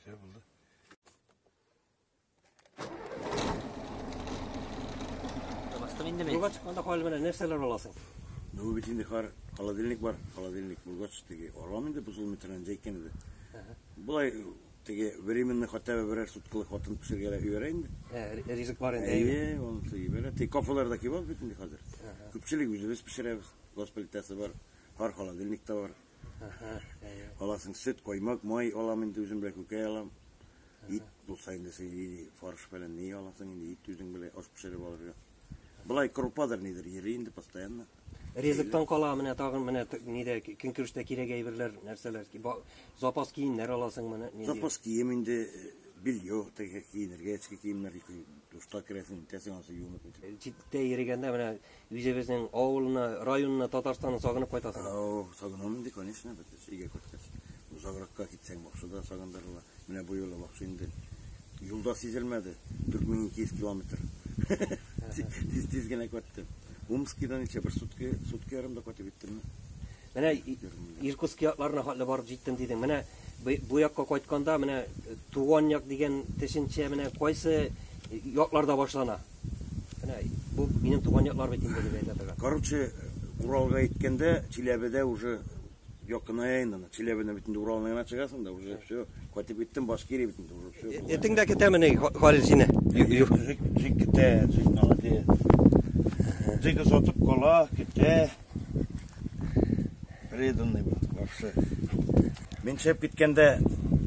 Все булды. Бастым инде мин. Юлга чыкканда хәл белән нәрсәләр аласың? Ну бит инде хар холодильник бар, холодильник булгач теге арам инде бозыл метран җәйкән иде. Булай теге временный хотя бы берәр суткалык хатын пешергәлә өйрә инде. Ә, ризык бар инде. Әйе, ул сөйбәлә. Тик кафеларда кебаб бит инде хәзер. Күпчелек үзебез пешерәбез. Госплитәсе бар. Бар холодильник та бар. Әһә, әйе. Аласың сөт, коймак, май алам инде үзем белән күкәй алам. Ит булса инде син или фарш белән ни аласың инде ит үзең белән аш пешереп алырга. Былай крупадыр нидер йөри инде постоянно. Ризыктан кала менә тагын менә нидә көнкүрештә кирәк әйберләр, нәрсәләр? Запас киемнәр аласың менә. Запас кием инде э, белье теге киенергә, эчке киемнәр ике душта керәсең, тәсең асы юынып. Читтә йөргәндә менә Үзебезнең авылны, районны, Татарстанны сагынып кайтасыңмы? Әү, сагынам инде, конечно, бит өйгә кайткач. Озагракка китсәң, Бакшыда сагындырыла. Менә бу юлы Бакшы инде юлда сизелмәде. 4200 километр. Тиз-тиз генә кайттым. Умскида ничә бер сутки, сутки ярымда кайтып җиттемме? Менә Иркутск якларына хәтле барып җиттем дидең. Менә бу якка кайтканда, менә туган як дигән төшенчә менә кайсы якларда башлана? Менә бу минем туган яклар бит инде дип әйтә торган. Короче, Уралга әйткәндә, Чиләбедә уже якыная инде. Чиләбедә бит инде Уралның гына чыгасың да, уже все. Кайтып киттем, Башкирия бит инде уже все. Э, Этең дә китәме ни, Халил сине? Жик китә, жик молодец. Жик озатып кала, китә. Преданный был вообще. Мин чеп киткәндә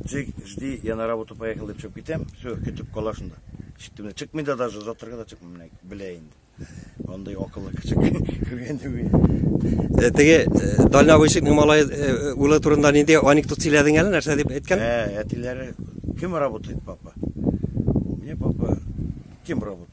Джек, жди, я на работу поехал дип чеп китәм. Все, көтеп кала шунда. Читтем. Чыкмый да даже озатырга да чыкмый белә инде. Андый акыллы кеше күргән түгел. Э, теге э, Даля Вышикның малай э, улы турында нинди анекдот сөйләдең әле, нәрсә дип әйткән? Ә, әтиләре кем работает, папа? Мне папа кем работает?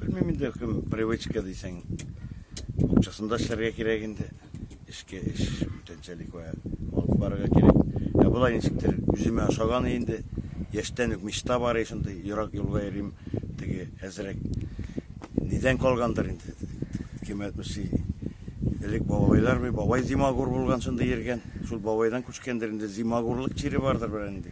Белмим инде, кем привычка дисәң, букчасында эшләргә кирәк инде. Эшкә эш бүтәнчәлек вә алып барырга кирәк. Ә болай ничектер үземә ошаган инде. Яшьтән үк мечта бар и шундый, ерак юлга йөрим, теге әзрәк. Нидән калгандыр инде. Кем әйтмешли, элек бабайлар бабай зимагур булган, шундый йөргән. Шул бабайдан күчкәндер инде, зимагурлык чире бардыр берәр инде.